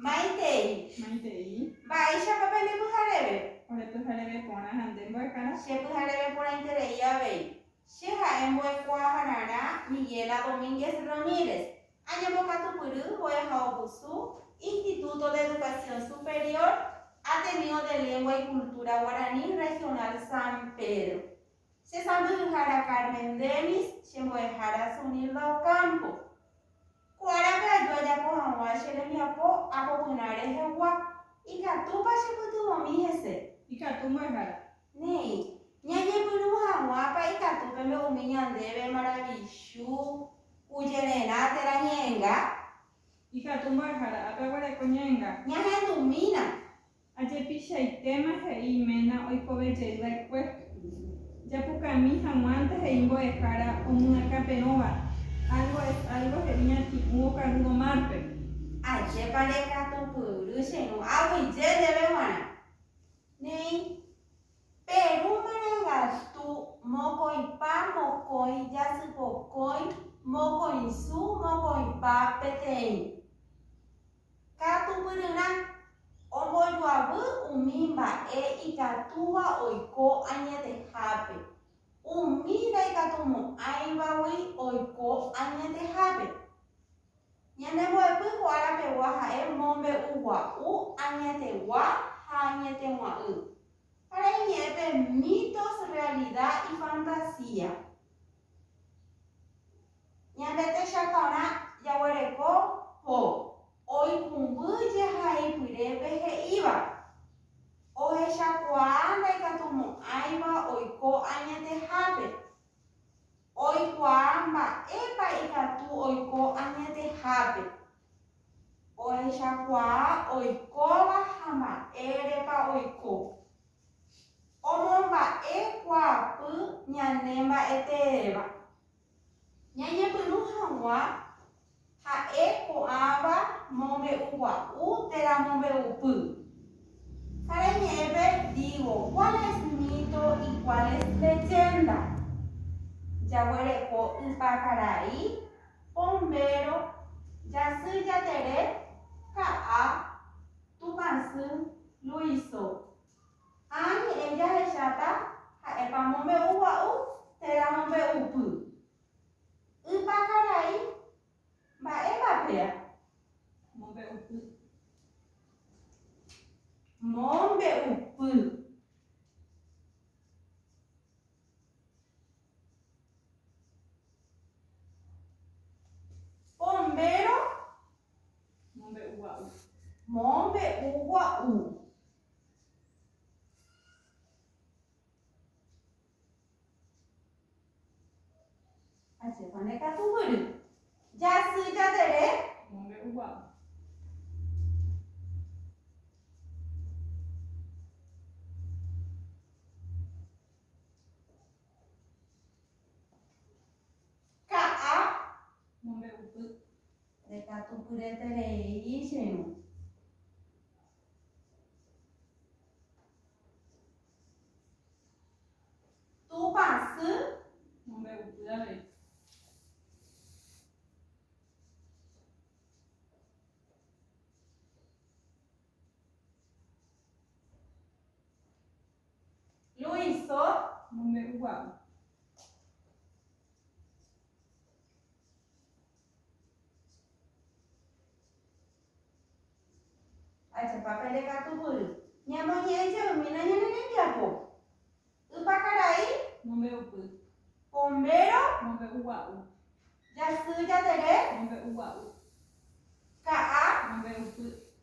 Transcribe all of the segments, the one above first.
Maitei. Mba'éichapa pende pyhareve? Ore pyhareve porã ha nde mbo'ekára. Che pyhareve porãiterei avei. Che ha'e mbo'ekuaahararã Miguela Domínguez Ramírez. Añembokatupyry mbo'ehaovusu Instituto de Educación Superior Ateneo de Lengua y Cultura Guaraní Regional San Pedro. Che sãmbyhyhára Carmen Dennis, chembo'ehára Zunilda Ocampo. Ko árape aju ajapo hag̃ua che rembiapo apopyrã rehegua. Ikatúpa chepytyvõmi hese? Ikatu mbo'ehára. Néi, ñañepyrũ hag̃uápa ikatu pe mbe'umi ñandéve maravichu ku jererã térã ñe'ẽnga? Ikatu mbo'ehára. Ápe oguereko ñe'ẽnga. Ñahendumína. Ajepihchaitéma he'i iména oikove jey va'ekue. Japukami haguãnte he'i mbo'ehára omyakãperõva, Algo es algo he'i ñati'ũ okarúvo márpe. Ajépa rekatupyry che ru aguyje ndéve guarã. Néi, pe ru maragastu, mokõipa, mokõi, jasypokõi, mokõisu, mokõipa, peteĩ. Katupyryrã, ombojoavy umi mba'e ikatúva oiko añetehápe, umi ndaikatumo'ãivagui oiko añetehápe. Ñanembo'epy ko ára pegua ha'e mombe'ugua'u añetegua ha añetegua'ỹ. Para iñe'ẽpe mitos, realidad y fantasía. Ñande techatãrã jaguereko po oikũmby jehaipyrépe he'íva, ohechakuaa ndaikatumo'ãiva oiko añetehápe, oikuaa mba'épa ikatu oiko añetehápe, ohechakuaa oikóva ha mba'érepa oiko. omomba'e kuaapy ñane mba'eteéva. Ñañepyrũ hag̃ua ha'e ko'ãva mombe'ugua'u térã mombe'upy. Karai ñe'ẽpe digo cuáles mito y cuáles leyenda. Jaguereko ypa karai, pombéro, jasy jatere, ka'a, Tupã sy, Luiso. Ani e jahecháta ha'épa mombe'u gua'u térã mombe'u py. Ypa karai, Mba'épa péa? Mombe'u py. Mombe'u py. Pombéro. Mombe'u gua'u. Mombe'u gua'u. Ajépa nde katu guýru. Jasy jatere. Mombe'u gua'u. Ka'a mombe'upy. Ndekatupyreterei che irũ. Túpa sy mombe'upy avei. Luiso mombe'ugua'u. Ajapa pende katupyry. Ñamoñe'ẽ jeýmina ñane rembiapo. Ypa karai. Mombe'upy. Pombéro. Mombe'u gua'u. Jasy jatere. Mombe'u gua'u. Ka'a. Mombe'upy.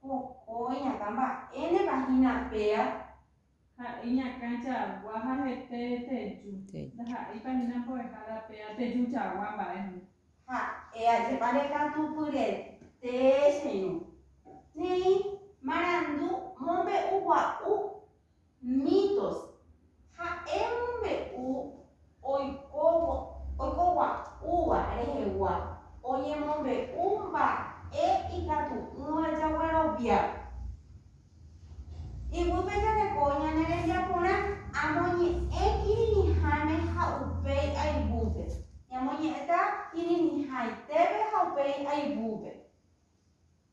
Ko kói hatã mba'énepa hína péa. Ha'e ñakã chagua ha hete teju. Ndaha'éipa hína mbo'ehára péa teju chagua mba'énte. Ha'e ajépa rekatupyrete che irũ. Néi marandu mombe'ugua'u Mitos, Ha'e omombe'u oiko gua'úva rehegua oñemombe'u mba'e ikatu'ỹva jaguerovia. Iguýpe jareko ñane rembia porã amoñe'ẽ kirirĩháme ha upéi ayvúpe. Ñamoñe'ẽta kirirĩhaitépe ha upéi ayvúpe.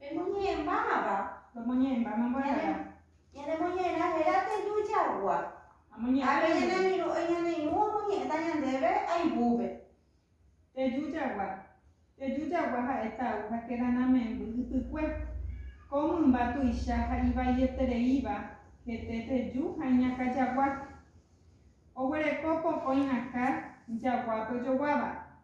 Pemoñe'ẽmbámapa? Pemoñe'ẽmbáma mborara. Ñanemoñe'ẽrã héra teju jagua. Amoñe'ẽ reve. Ápe ñane irũ, ñane irũ omoñe'ẽta ñandéve ayvúpe. Teju jagua. Teju jagua ha'e ta'u ha Quedana memby ypykue. Ko mymba tuicha ha ivaietereíva hete teju ha iñakã jagua. Oguereko pokõi akã jaguápe ojoguáva.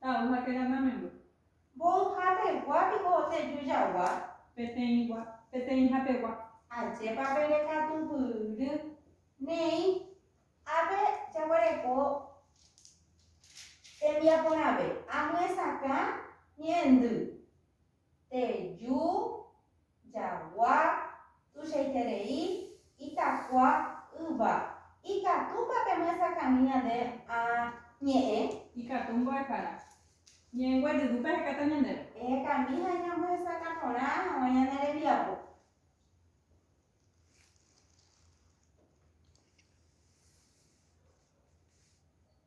Tau ha térã naméngo. Mbo'uha regua piko ojeju jagua. Peteĩgua, peteĩha pegua. Ajépa pende katupyry. Néi, ápe jaguereko tembiaporãve, amyesakã ñe'ẽndy. Teju, jagua, tuichaiterei, itakua, yva. Ikatúpa pemyesakãmi ñande ã ñe'ẽ? Ikatu mbo'ehára. Ñe'ẽngue juru pehekáta ñandéve. Ehekami ha ñambohesakã porã hag̃ua ñane rembiapo.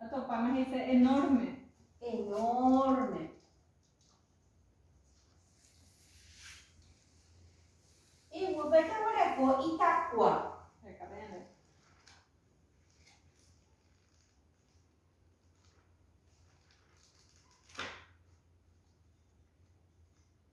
Atopáma he'ise enórme. Enórme. Iguýpe teguereko itakua.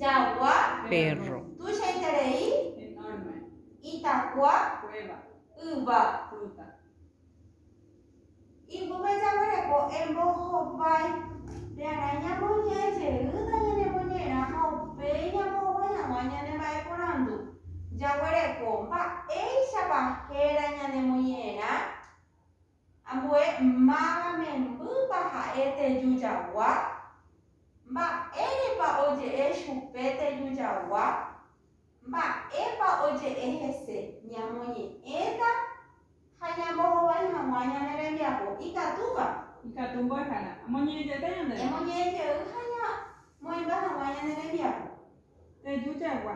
Jagua. Pérro. Tuichaiterei. Enórme. Itakua. Kuéva. Yva. Frúta. Ipype jaguereko embohovái pe arai ñamoñe'ẽ jeýta ñanemoñe'ẽrã ha upéi ñambohovái hag̃ua ñane mba'e porandu. Jaguereko mba'éichapa héra ñanemoñe'ẽrã. Ambue máva membýpa ha'e teju jagua? Mba'érepa oje'e chupe teju jagua? Mba'épa oje'e hese? Ñamoñe'ẽta ha ñambohovái hag̃ua ñane rembiapo ikatúva. Ikatu mbo'ehára, amoñe'ẽ jeýta ñandéve. Ñamoñe'ẽ jey ha ñamoĩmba hag̃ua ñane rembiapo. Teju jagua.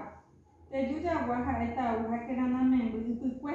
Teju jagua ha'e tau ha kerana memby ypykue.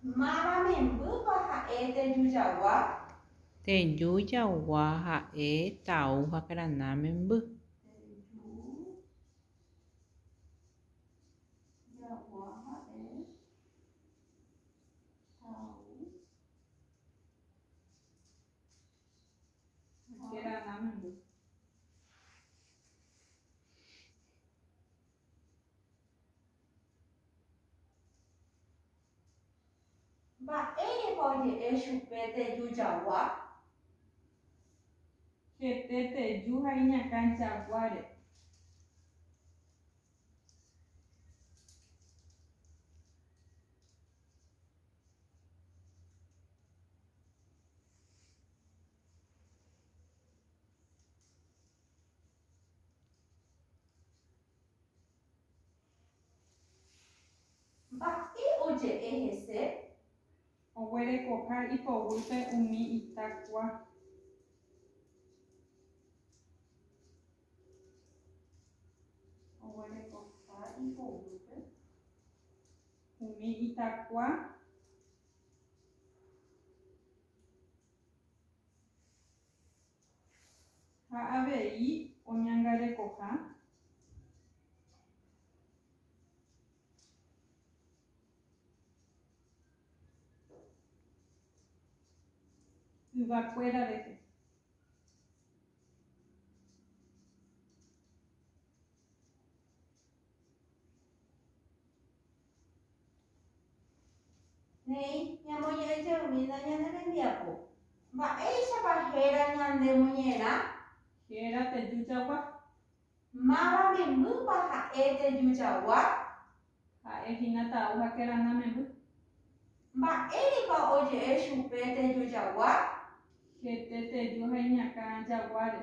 Máva membýpa ha'e Teju Jagua? Teju Jagua ha'e Tau Jacarandá memby. Mba'érepa oje'e chupe teju jagua? Hete teju ha iñakã jaguáre. Mba'e oje'e hese? Oguerekoha ipoguýpe umi ita kua. Oguerekoha ipoguýpe umi ita kua. ha avei oñangarekoha yvakuéra rehe. Néi, ñamoñe'ẽte umi nda ñane rembiapo. Mba'éichapa héra ñande moñerã? Héra tejuchagua. Máva membýpa ha'e tejuchagua? Ha'e hína ta'u ha kerana memby. Mba'érepa oje'e chupe tejuchagua? Hete teju ha iñakã jaguáre.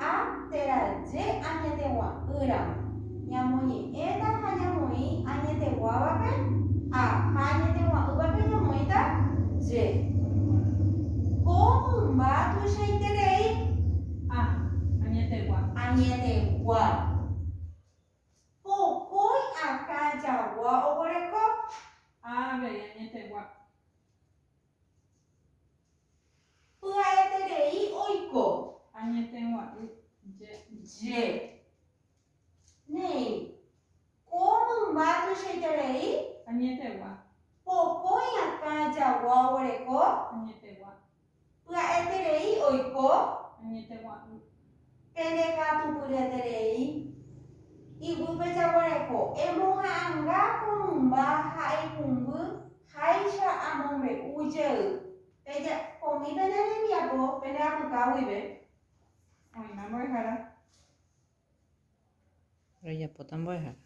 Ha térã je añetegua'ỹramo, ñamoñe'ẽta ha ñamoĩ añeteguávape, ha ha añetegua'ỹvape ñamoĩta je. Ko mymba tuichaiterei. Ha añetegua. Añetegua. Pokõi akã jagua oguereko. Ha avei añetegua. Pya'eterei oiko añetegua'y je. Néi, ko mymba tuichaiterei? Añetegua. Pokõi akã jagua oguereko? Añetegua. Pya'eterei oiko? Añetegua'y. Perekatupyreterei iguýpe jaguereko, emoha'ãnga ko mymba ha eikũmby háicha amombe'u jey. Pejapomi pene rembiapo pene apyta guive, oĩma mbo'ehára. Rejapóta mbo'ehára.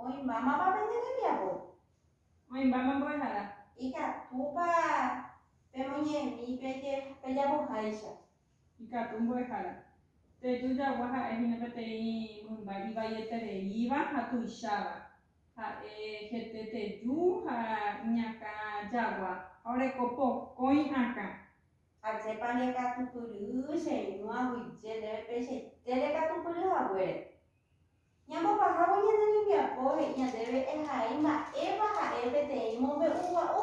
Oĩmba mama pende remiapo. Oĩmba ma mbo'ehára. Ikatúpa pemoñe'ẽmi pejapoháicha. Ikatu mbo'ehára. Teju jagua ha'e hína peteĩ mymba ivaietereíva ha tuicháva. Ha'e hete teju ha iñakã jagua ha oreko pokõi akã. Ajépa ñakatupyry che irũ aguyje ndéve peichaite rekatupyry haguére. Ñambopahávo ñane rembiapo he'i ñandéve ehai mba'épa ha'e peteĩ mombe'ugua'u.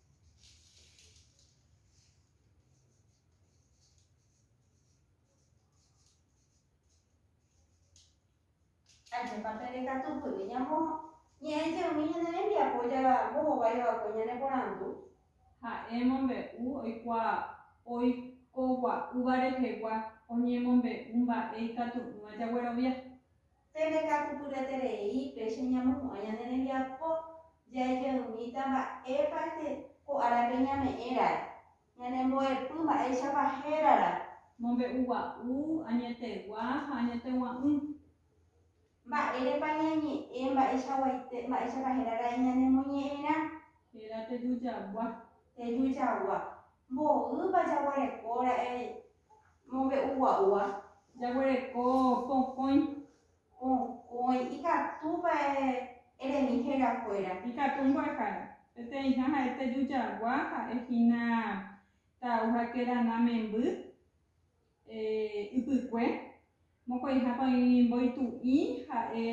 Ajépa perekatupyry ñamoñe'ẽje umi ñane rembiapo ojohováiva va'ekue ñane porandu. Ha'e mombe'u oikuaa oikogua'úva rehegua oñemombe'u mba'e ikatu'ỹva jaguerovia. Pe ndekatupyreterei péicha ñamopu'ã ñane rembiapo, jaijeyumíta mba'épa este ko árape ñame'ẽrare, ñanembo'epy mba'éichapa héraramo. Mombe'ugua'u, añetegua ha añetegua'ỹ. Mba'érepa ñañe'ẽ mba'eichaguaite, mba'éichapa hérara'e ñanemoñe'ẽrã. Héra tejujagua. Tejujagua. Mboýpa jaguarekóra'e Mombe'ugua'ua. Jaguereko pokõi. Pokõi. Ikatu va'e eremi héra kuéra. Ikatu mbo'ehára. Peteĩha ha'e tejujagua, ha'e hína tau ha kerana memby, ypykue. Mokõihápa oĩrimi mboytu'ĩ, ha'e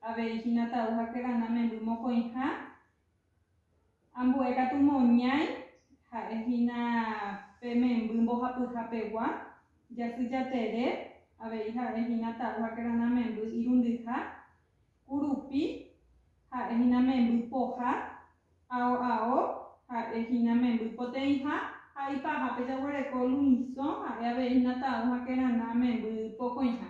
avei hína tau ha kerana memby mokõiha, Ambue katu moñãi, ha'e hína pe memby mbohapyha pegua, jasy jatere, avei ha'e hína ta'u ha kerana memby irundyha, kurupi, ha'e hína memby poha, ao ao, ha'e hína memby poteĩha, ha ipahápe jaguereko luisõ, ha'e avei hína ta'u ha kerana memby pokõiha.